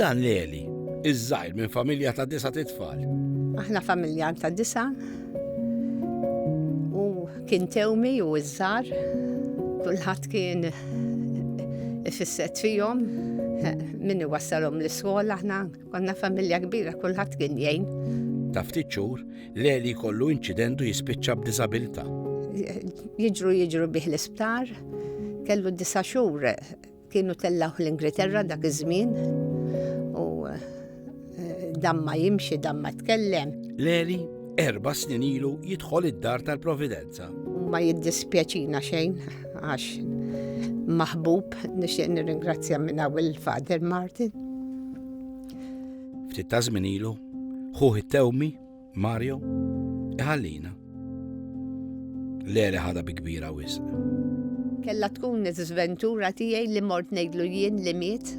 Dan l-Eli, iż-żgħir minn familja ta' disa titfal. Aħna familja ta' disa u kien tewmi u iż-żar kulħadd kien ifisset fihom min iwassalhom l-iskola aħna konna familja kbira kulħadd kien jgħin. Ta' ftit xhur l-Eli kollu inċidentu jispiċċa b'diżabilità. Jiġru jiġru bih l-isptar kellu disa xhur Kienu tellawh l-Ingilterra dak iż-żmien u eh, damma jimxi damma tkellem. Leli erba' snin ilu jidħol id-dar tal-Providenza. Ma jiddispjaċina xejn għax maħbub nixtieq nirringrazzja minn il Father Martin. Ftit ta' żmien ilu, ħuħ it-tewmi Mario, iħallina. Lele ħada bi kbira wisq. Kella tkun iż-żventura tiegħi li mort ngħidlu jien li miet.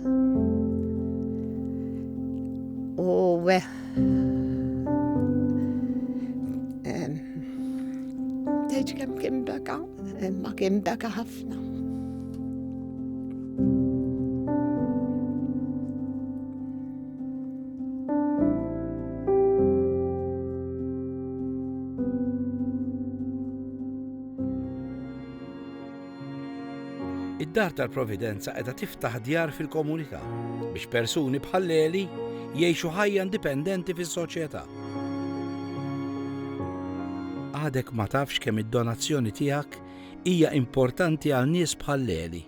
U eh, Tgħidx kemm kien beka, imma kien beka ħafna. Id-Dar tal-Providenza qiegħda tiftaħ djar fil-komunità biex persuni bħalleli jgħixu ħajja indipendenti fis-soċjetà. Għadek ma tafx kemm id-donazzjoni tiegħek hija importanti għal nies bħalleli.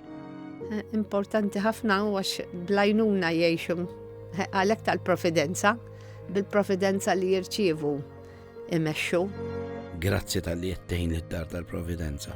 Eh, importanti ħafna għax blajnuna jgħixu Għalhekk tal-profidenza, bil-profidenza li jirċievu imexxu. Grazzi tal-li jettejn id-dar tal-providenza.